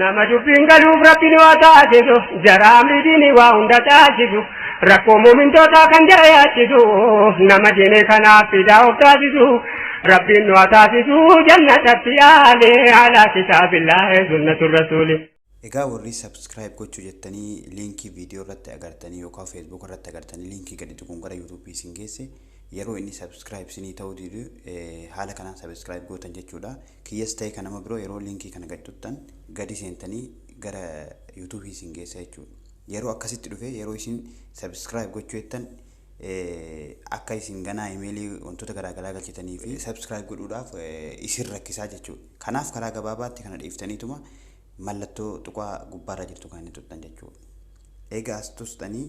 Nama dubbiin galuuf rabbiin waa taasisu jaraa amriitiin waa hunda taasisu rakkoo muumintootaa kan jara yaachisu nama diinee kanaaf fidaa of taasisu rabbiin nu haa taasisu jannatatti yaale alaa kitaabillaahi sunnatu rasuuli. Egaa warri subscribe gochuu jettanii liinkii viidiyoo irratti agartanii yookaan feesbuuk irratti agartanii liinkii gadi tuquun gara yuutuubii isin geesse yeroo inni subscribe isinii ta'uu didu haala kanaan subscribe gootan jechuudha. Kiyyas ta'e ka nama biroo yeroo linkii kana gad tuttan gadi seentanii gara YouTube isin geessa jechuudha. Yeroo akkasitti dhufee yeroo isin subscribe gochuu jettan akka isin ganaa imeelii wantoota garaagaraa galchitanii fi subscribe godhuudhaaf isin rakkisaa jechuudha. Kanaaf karaa gabaabaatti kana dhiiftaniituma mallattoo tuqaa gubbaarra jirtu kan inni tuttan jechuudha. Egaa as tustanii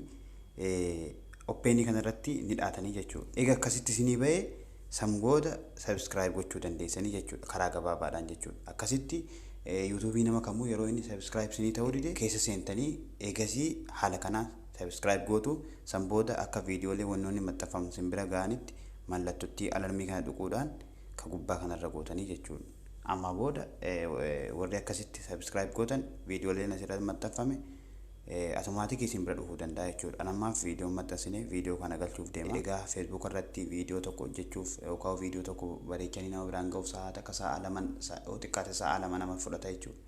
oppeenii kanarratti ni dhaatanii jechuudha. Egaa akkasitti isinii ba'ee San booda subscribe gochuu dandeessanii jechuudha karaa gabaabaadhaan jechuudha. Akkasitti YouTube nama kamuu yeroo inni subscribe sinii ta'uu dide keessa seentanii eegasii haala kanaan subscribe gootu san booda akka viidiyoolee wannoonni maxxanfaman sin bira ga'anitti mallattottii alarmii kana dhuquudhaan ka gubbaa kanarra gootanii jechuudha. Amma booda warri akkasitti subscribe gootan viidiyooleen asirratti maxxanfame Automaatikii isin bira dhufuu danda'a jechuudha. An ammaaf viidiyoo hin maxxansine viidiyoo kana galchuuf deema. Egaa Facebook irratti viidiyoo tokko hojjechuuf yookaan viidiyoo tokko bareechanii nama biraan ga'uuf sa'a takka sa'a laman yoo xiqqaate sa'a lama nama fudhata jechuudha.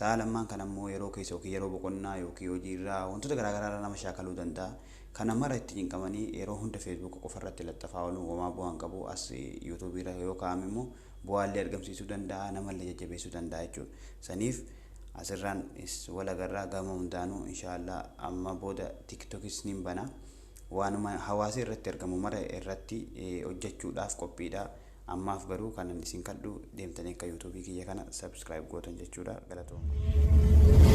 Sa'a lammaan kana immoo yeroo keessa yookiin yeroo boqonnaa yookiin hojiirraa wantoota garaagaraa irraa nama shaakaluu danda'a. Kana mara itti cinqamanii yeroo hunda Facebook qofa irratti laxxafaa ooluun homaa bu'aa hin qabu. As YouTube irra yoo kaa'ame immoo bu'aallee argamsiisuu danda'a, namallee jajjabeessuu danda'a jechuudha. Saniif asirraan is wal agarraa gama hundaanuu inshaallah amma booda tiktokis nin bana. Waanuma hawaasi irratti argamu mara irratti hojjechuudhaaf qophiidha. Ammaaf garuu kanan isin kadhu deemtanii akka yuutuubii kiyya kana subscribe gootan jechuudha. Galatooma.